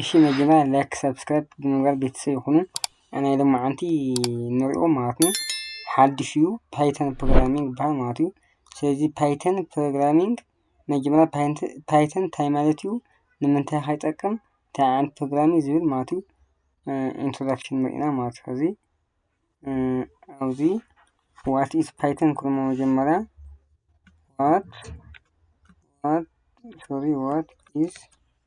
እሺ መጀመርያ ላይክ ሰብስክራይብ ብምግባር ቤተሰብ ይኹኑ ናይ ሎማዓንቲ ንሪኦ ማለት እዩ ሓድሽ እዩ ፓይተን ፕሮግራሚንግ ይበሃል ማለት እዩ ስለዚ ፓይተን ፕሮግራሚንግ መጀመርያ ፓይተን እንታይ ማለት እዩ ንምንታይ ከ ይጠቅም እንታይ ዓይነት ፕሮግራሚንግ ዝብል ማለት እዩ ኢንትሮዳክሽን ንርኢ ኢና ማለት እዩ ከዚ ኣብዚ ዋት ኢዝ ፓይተን ክብሎ መጀመርያ ዋት ዋት ሶሪ ዋት ኢዝ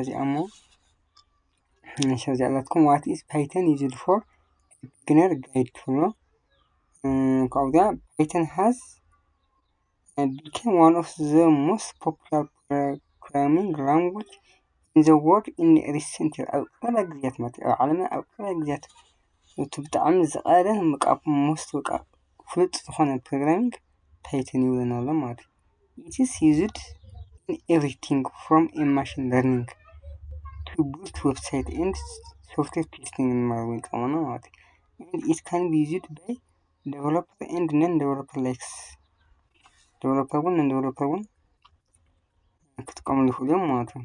እዚኣ እሞ እዚኣ ዘላትኩም ዋት ኢዝ ፓይተን ዩዝድ ፎር ቢግነር ጋይድ ትብሎ ካብኡ እዚኣ ፓይተን ሃዝ ቢኬም ዋን ኦፍ ዘ ሞስት ፖፑላር ፕሮግራሚንግ ላንጉጅ ኢን ዘ ወርልድ ኢን ሪሰንት ይር ኣብ ቀረባ ግዜያት ማለት እዩ ኣብ ዓለምና ኣብ ቀረባ ግዜያት እቲ ብጣዕሚ ዝቀረበ ካብ ሞስት በቃ ፍሉጥ ዝኮነ ፕሮግራሚንግ ፓይተን እዩ ዝብለና ኣሎ ማለት እዩ። ኢት ኢዝ ዩዝድ ኢን ኤቭሪቲንግ ፍሮም ኤ ማሽን ለርኒንግ ቱ ቢልድ ዌብሳይት ኤንድ ሶፍትዌር ቴስቲንግ ንምባል እውን ይጠቅመና ማለት እዩ። ኤንድ ኢት ካን ቢ ዩዝድ ባይ ደቨሎፐር ኤንድ ነን ደቨሎፐር ላይክስ ደቨሎፐር እውን ነን ደቨሎፐር እውን ክጥቀምሉ ይክእሉ እዮም ማለት እዩ።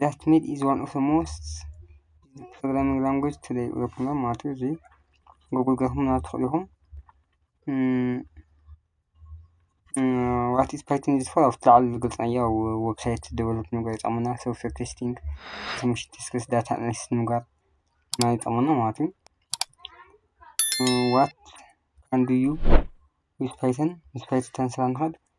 That made is one of the most programming language today ወይኹም ማለት እዩ እዚ ጉግል ገርኩም ናብ ትኽእሉ ኢኹም ዋት ኢዝ ፓይተን ኢዝ ፎር ኣብ ትላዕሊ ዝገልጽናዮ ኣብ ዌብሳይት ደቨሎፕ ምግባር ይጠቕመና ሶፍትዌር ቴስቲንግ ትምህርቲ ቴስክስ ዳታ ኣናሊሲስ ምግባር ና ይጠቕመና ማለት እዩ ዋት ካን ዱ ዩ ዊዝ ፓይተን ምስ ፓይተን ተንስራ ንኽእል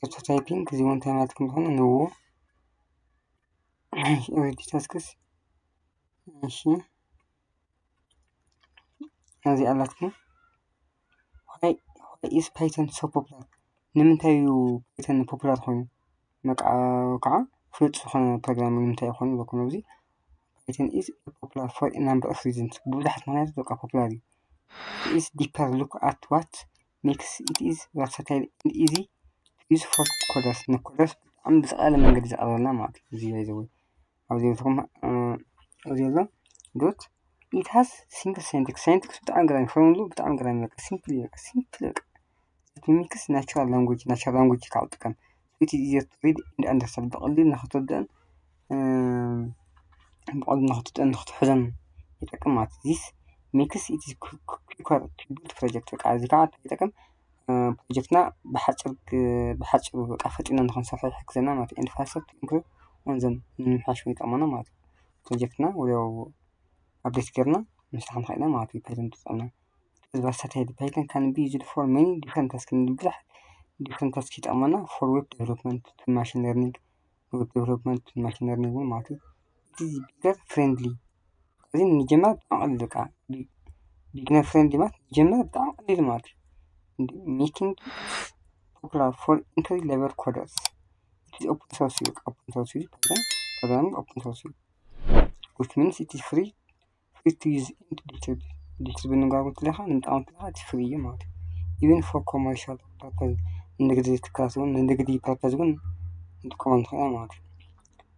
ኣውቶ ታይፒንግ እዚ ውን እንታይ ማለት ከም ዝኾነ ንእኡ ኦሬዲ ተስክስ እሺ እዚኣ ኣላትኩም ዋይ ኢዝ ፓይተን ሶ ፖፑላር ንምንታይ እዩ ፓይተን ፖፑላር ኮይኑ በቃ ከዓ ፍሉጥ ዝኾነ ፕሮግራሚንግ ንምንታይ እዩ ኮይኑ ኢልኩም ኣብዚ ፓይተን ኢዝ ፖፑላር ፎር አ ናምበር ኦፍ ሪዝንስ ብብዙሓት ምኽንያታት በቃ ፖፑላር እዩ ኢዝ ዲፐር ሉክ ኣት ዋት ኔክስ ኢት ኢዝ ቨርሳታይል ኤንድ ኢዚ ዩዝ ፎር ኮለርስ ንኮለርስ ብጣዕሚ ብዝቀለለ መንገዲ ዘቅርበልና ማለት እዩ። እዚ ባይ ዘ ዌይ ኣብዚ ቤትኩም ኣብዚ ዘሎ ዶት ኢት ሃዝ ሲምፕል ሳይንቲክስ ሳይንቲክስ ብጣዕሚ ገራሚ ፎርሙልኡ ብጣዕሚ ገራሚ በቃ ሲምፕል እዩ በቃ ሲምፕል በቃ ኢት ሚክስ ናቹራል ላንጉጅ ናቹራል ላንጉጅ ክዓ ትጥቀም። እቲ ዘትሪድ ኢንድ ኣንደርሰን ብቐሊል ንኽትርድእን ብቐሊል ንኽትጥን ንኽትሕዞን ይጠቅም ማለት እዩ። ዚስ ሜክስ ኢት ኲከር ቱ ቢልድ ፕሮጀክት በቃ እዚ ከዓ እንታይ ይጠቅም ፕሮጀክትና ብሓፂር ብሓፂሩ በቃ ፈጢንና ንኽንሰርሖ ይሕግዘና ማለት እዩ። ኤንድ ፋስተር ቱ ኢምፕሮቭ ኦን ዘም ንምምሕያሽ እውን ይጠቕመና ማለት እዩ። ፕሮጀክትና ወዲያው ኣፕዴት ገይርና ምስራሕ ንኽእል ኢና ማለት እዩ። ቨርሳታይል ፓይተን ካን ቢ ዩዝድ ፎር ሜኒ ዲፍረንት ታስክ ንብዙሓት ዲፍረንት ታስክ ይጠቕመና ፎር ዌብ ዴቨሎፕመንት ቱ ማሽን ለርኒንግ ዌብ ዴቨሎፕመንት ቱ ማሽን ለርኒንግ እውን ማለት እዩ እቲ ቢገር ፍሬንድሊ እዚ ንጀማሪ ብጣዕሚ ቀሊል በቃ ቢግነር ፍሬንድሊ ማለት ንጀማሪ ብጣዕሚ ቀሊል ማለት እዩ እንደ ሜኪንግ ፖፑላር ፎር ኢንትሪ ሌቨል ኮደርስ ኢትዝ ኦፕን ሶርስ እዩ በቃ ኦፕን ሶርስ እዩ ፓይተን ፕሮግራሚንግ ኦፕን ሶርስ እዩ ዊች ሚንስ ኢትዝ ፍሪ ፊቱዝ ኢንዲኬተር ዲስፕሊን ብምንባሩ ከለኻ ንመጠቀምቲ ከኣ እቲ ፍሪ እዩ ማለት እዩ ኢቭን ፎር ኮመርሻል ፐርፐዝ ንግዲ ትካላት ዉን ንንግዲ ፐርፐዝ ዉን ክንጥቀመሉ ንክእል ኢና ማለት እዩ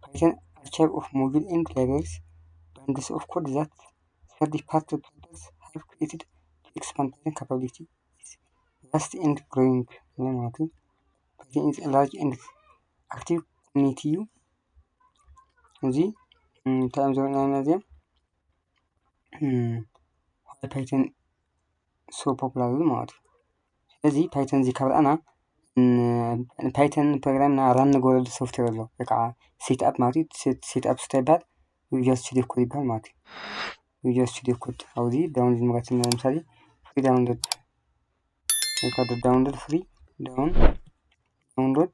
ፐይተን ኣርቻይቭ ኦፍ ሞጁል ኤንድ ላይብረሪስ ባንድስ ኦፍ ኮድ ዛት ፎር ዘ ፓስት ፐርፐዝ ሃቭ ክሬትድ ቱ ኤክስፓንድ ዘ ካፓቢሊቲ ኢዝ ቫስት ኤንድ ግሮዊንግ ማለት እዩ ፐይተን ኢዝ አ ላርጅ ኤንድ ኣክቲቭ ኮሚኒቲ ዩ። እዚ እንታይ እዮም ዘርእዩና እዚኦም ፓይተን ሱፐርፕላይዘር ማለት እዩ። እዚ ፓይተን እዚ ካብ ረኣና ፓይተን ፕሮግራም እና ራን ንገብረሉ ሶፍትዌር ኣሎ ወይ ከዓ ሴት ኣፕ ማለት እዩ። ሴት ኣፕ እንታይ ይበሃል? ቪዥዋል ስቱዲዮ ኮድ ይበሃል ማለት እዩ። ቪዥዋል ስቱዲዮ ኮድ ኣብዚ ዳውንሎድ ንምረት እና ለምሳሌ ፍሪ ዳውንሎድ ወይ ከዓ ዳውንሎድ ፍሪ ዳውን ዳውንሎድ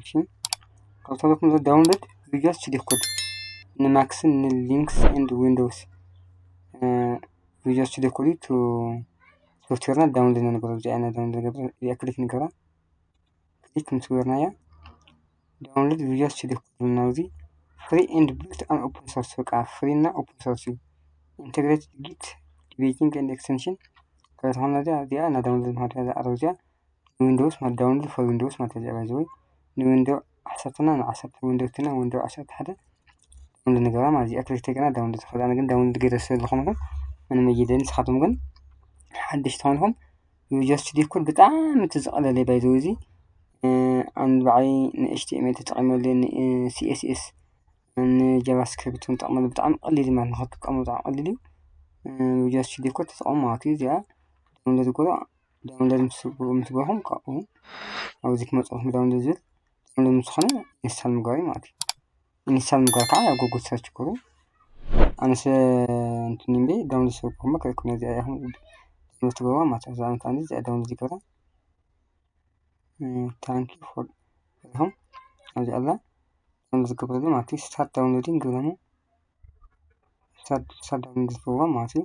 እሺ ከውታሎት ምዘ ዳውንሎድ ቪዲዮስ ችዲኮድ ንማክስን ንሊንክስ ኤንድ ዊንዶውስ ቪዲዮስ ችዲኮዲ ቱ ሶፍትዌርና ዳውንሎድ ንነበረ እዚ ዓይነት ዳውንሎድ ገበረ እዚኣ ክሊክ ንገራ ክሊክ ምስ ገበርናያ ዳውንሎድ ቪዲዮስ ችዲኮድ ዝብልና እዚ ፍሪ ኤንድ ቢልት ኣን ኦፕን ሶርስ በቃ ፍሪ እና ኦፕን ሶርስ እዩ ኢንተግሬትድ ጊት ዲቤቲንግ ኤንድ ኤክስቴንሽን ከተኾና እዚኣ እዚኣ እና ዳውንሎድ ማሃድያ ዝኣረብ እዚኣ ንዊንዶውስ ማለት ዳውንሎድ ፎር ዊንዶውስ ማለት እዩ ባይ ዘ ወይ ንዊንዶ ዓሰርተ እና ንዓሰርተ ዊንዶ ክልተ እና ዊንዶ ዓሰርተ ሓደ ዳውንሎድ ንገብራ ማለት እዚኣ ክልተ ገና ዳውንሎድ ዝኽእል ኣነ ግን ዳውንሎድ ገይረ ስለ ዝኾንኩ ምንም እይደልን ንስኻትኩም ግን ሓደሽቲ ኾንኩም ዩጀስት ዲኮድ ብጣዕሚ እቲ ዝቐለለ ባይ ዘ ወይ እዚ ኣን ባዕይ ንኤችቲኤምኤል ተጠቒመሉ ንሲኤስኤስ ንጃቫስክሪፕት እውን ጠቕመሉ ብጣዕሚ ቀሊል እዩ ማለት ንኽትጥቀሙ ብጣዕሚ ቀሊል እዩ ዩጀስት ዲኮድ ተጠቐሙ ማለት እዩ እዚኣ ዳውንሎድ ግበሩ ዳውንሎድ ምስ ገበርኩም ካብኡ ኣብዚ ክመፀልኩም ዳውንሎድ ዝብል ዳውንሎድ ምስ ዝኾነ ኢንስታል ምግባር እዩ ማለት እዩ ኢንስታል ምግባር ከዓ ኣብ ጎግል ሰርች ክብሉ ኣነስ እንትን እዩ እምበይ ዳውንሎድ ስለ ዝገበርኩ እሞ ክእክብ ነዚኣ እያ ክብል ዳውንሎድ ትገብርዋ ማለት እዩ እዛ ኣነ ከዓ እዚኣ ዳውንሎድ ይገብራ ታንኪ ፎር ኢኹም ኣብዚኣ ኣላ ዳውንሎድ ዝገብረሉ ማለት እዩ ስታርት ዳውንሎዲንግ ግብረሙ ስታርት ዳውንሎድ ዝገብርዋ ማለት እዩ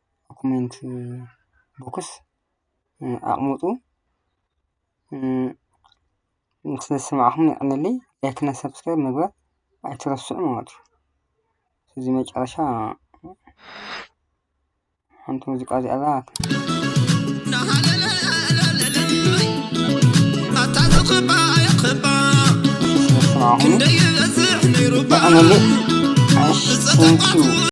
ዶኩመንት ቦክስ ኣቅምጡ ስለ ዝሰማዕኹም የቀንየለይ ላይክ እና ሰብስክራይብ ምግባር ኣይትረስዑ ማለት እዩ እዚ መጨረሻ ሓንቲ ሙዚቃ እዚኣ እዛ ስለ ዝሰማዕኹም የቀንየለይ ኣሽ ቴንኪው